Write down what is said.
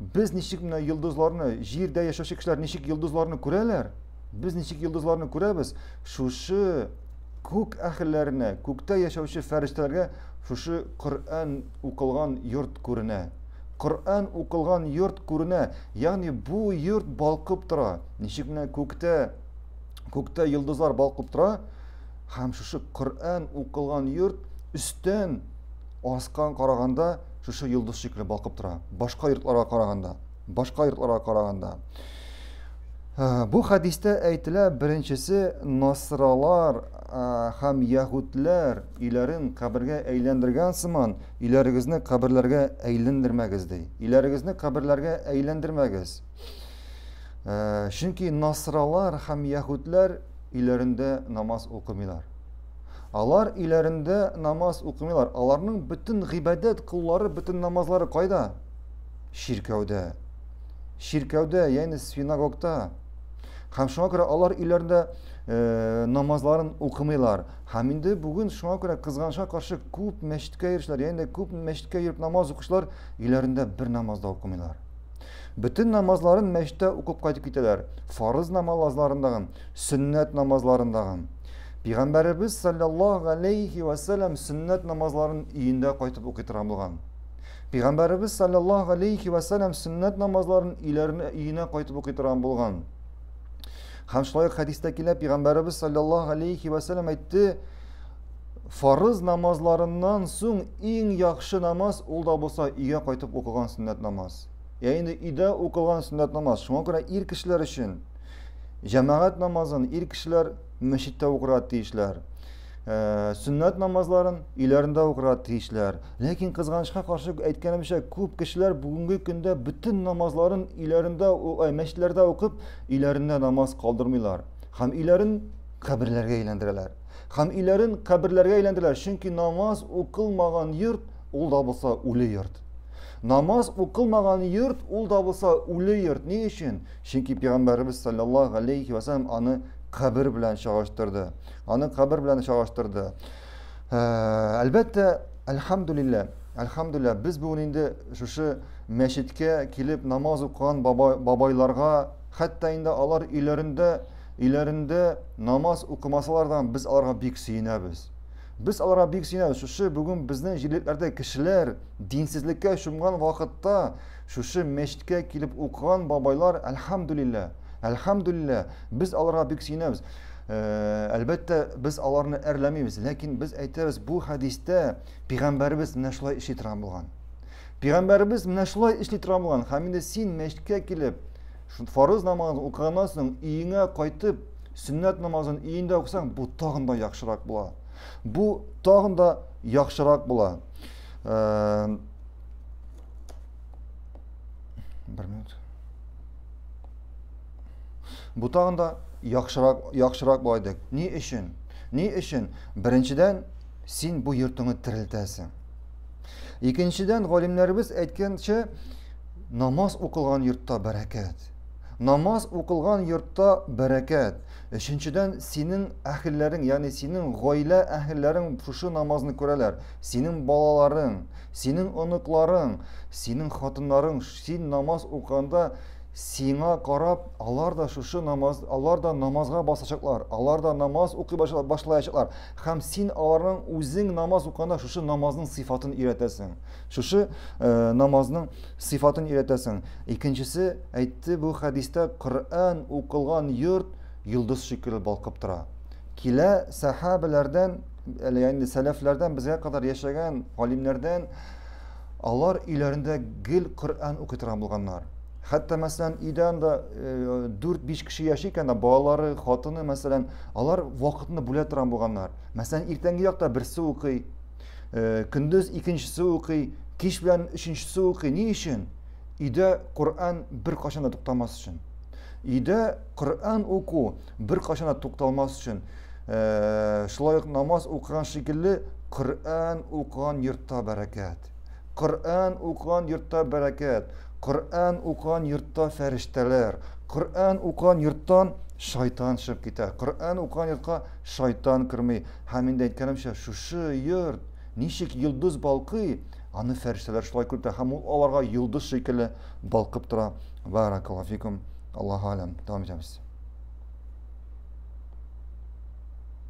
Без ничек менә йолдызларны, җирдә яшәүче кешеләр ничек йолдызларны күрәләр? Без ничек йолдызларны күрәбез? Шушы күк әһелләренә, күктә яшәүче фәрештәләргә шушы Коръән укылган йорт күренә. Коръән укылган йорт күренә. Ягъни бу йорт балкып тора. Ничек менә күктә күктә йолдызлар балкып тора, Һәм шушы Коръән укылган йорт өстән аскан караганда шушы йолдыз шикелле балкып тора. Башка йортларга караганда, башка йортларга караганда. Ә, бу хәдистә әйтелә, беренчесе насралар ә, һәм яһүдләр өйләрен кабергә әйләндергән сыман, өйләрегезне каберләргә әйләндермәгез ди. Өйләрегезне каберләргә әйләндермәгез. Ә, чөнки насралар һәм яһүдләр Өйләрендә намаз укымыйлар. Алар өйләрендә намаз укымыйлар. Аларның бөтен гыйбадәт куллары, бөтен намазлары кайда? Чиркәүдә. Чиркәүдә, ягъни синагогта. Һәм шуңа күрә алар өйләрендә э, намазларын укымыйлар. Һәм инде бүген шуңа күрә кызганычка каршы күп мәчеткә йөрүчеләр, ягъни күп мәчеткә йөреп намаз укучылар өйләрендә бер намаз да укымыйлар. Бөтен намазларын мәчтә укып кайтып китәләр, фарыз намалазларындагын, сөннәт намазларындагын. Пигамбәребез саллаллаһу галәйһи вә сәләм сөннәт намазларын өендә кайтып укый торган булган. Пигамбәребез саллаллаһу галәйһи вә сәләм сөннәт намазларын өйләренә өенә кайтып укый торган булган. Һәм шулай ук хәдистә килә, Пигамбәребез саллаллаһу галәйһи вә сәләм әйтте, Фарыз намазларыннан соң иң яхшы намаз ул да булса өйгә кайтып укыган сөннәт намаз. Ә инде өйдә укылган сөннәт намаз. Шуңа күрә ир кешеләр өчен җәмәгать намазын ир кешеләр мәчеттә укырга тиешләр. Э, сөннәт намазларын өйләрендә укырга тиешләр. Ләкин кызганычка каршы әйткәнемчә, күп кешеләр бүгенге көндә бөтен намазларын өйләрендә, ай, мәчетләрдә укып, өйләрендә намаз калдырмыйлар. Һәм өйләрен каберләргә әйләндерәләр. Һәм өйләрен каберләргә әйләндерәләр, чөнки намаз укылмаган йорт ул да булса үле йорт. Намаз укылмаган йорт ул да булса үле йорт. Ни өчен? Чөнки пәйгамбәребез саллаллаһу алейхи ва саллям аны кабер белән чагыштырды. Аны кабер белән чагыштырды. Э, әлбәттә, әлхамдулилләһ, әлхамдулилләһ, без бүген инде шушы мәчеткә килеп намаз укыган бабайларга Хәтта инде алар өйләрендә, өйләрендә намаз укымасалар да, без аларга бик сөенәбез. Без аларга бик сөенәбез. Шушы бүген безнең җирлекләрдә кешеләр динсезлеккә чумган вакытта, шушы мәчеткә килеп укыган бабайлар, әлхәмдүлилләһ, әлхәмдүлилләһ, без аларга бик сөенәбез. Э, әлбәттә, без аларны әрләмибез, ләкин без әйтәбез, бу хәдистә пигамбәребез менә шулай эшли торган булган. Пигамбәребез менә шулай эшли тора булган. Һәм инде син мәчеткә килеп, шул фарыз намазын укыганнан соң өеңә кайтып, сөннәт намазын өендә укысаң, бу тагын да яхшырак була. Бу тагын да яхшырак була. Э, бер минут. Бу тагын да яхшырак яхшырак була иде. Ни өчен? Ни өчен? Беренчедән, син бу йортыңны терелтәсең. Икенчедән, галимнәребез әйткәнчә, намаз укылган йортта бәрәкәт. Намаз укылган йортта бәрәкәт. Өченчедән, синең әхелләрең, ягъни синең гаилә әхелләрең шушы намазны күрәләр. Синең балаларың, синең оныкларың, синең хатыннарың, син намаз укыганда сиңа карап, алар да шушы намаз, алар да намазга басачаклар, алар да намаз укый башлаячаклар. Һәм син аларның үзең намаз уканда шушы намазның сыйфатын өйрәтәсең. Шушы э, намазның сыйфатын өйрәтәсең. Икенчесе әйтте бу хәдистә Коръән укылган йорт йолдыз шикелле балкып тора. Килә сәхәбәләрдән, әле инде сәләфләрдән безгә кадәр яшәгән галимнәрдән алар өйләрендә гел Коръән укый торган булганнар. Хәтта, мәсәлән, өйдә анда 4-5 э, кеше яши икән, балалары, хатыны, мәсәлән, алар вакытны бүлә торган булганнар. Мәсәлән, иртәнге якта берсе укый, э, көндез икенчесе укый, кич белән өченчесе укый. Ни өчен? Өйдә Коръән бер кашан да туктамас өчен. Өйдә Коръән уку бер кашан да тукталмас өчен. Э, шулай ук намаз укыган шикелле, Коръән укыган йортта бәрәкәт. Коръән укыган йортта бәрәкәт, Коръән укыган йортта фәрештәләр, Коръән укыган йорттан шайтан чыгып китә, Коръән укыган йортка шайтан керми. Һәм инде әйткәнемчә, шушы йорт ничек йолдыз балкый, аны фәрештәләр шулай күртә һәм ул аларга йолдыз шикелле балкып тора. Баракаллаһу фикум. Аллаһу алям. Дәвам итәбез.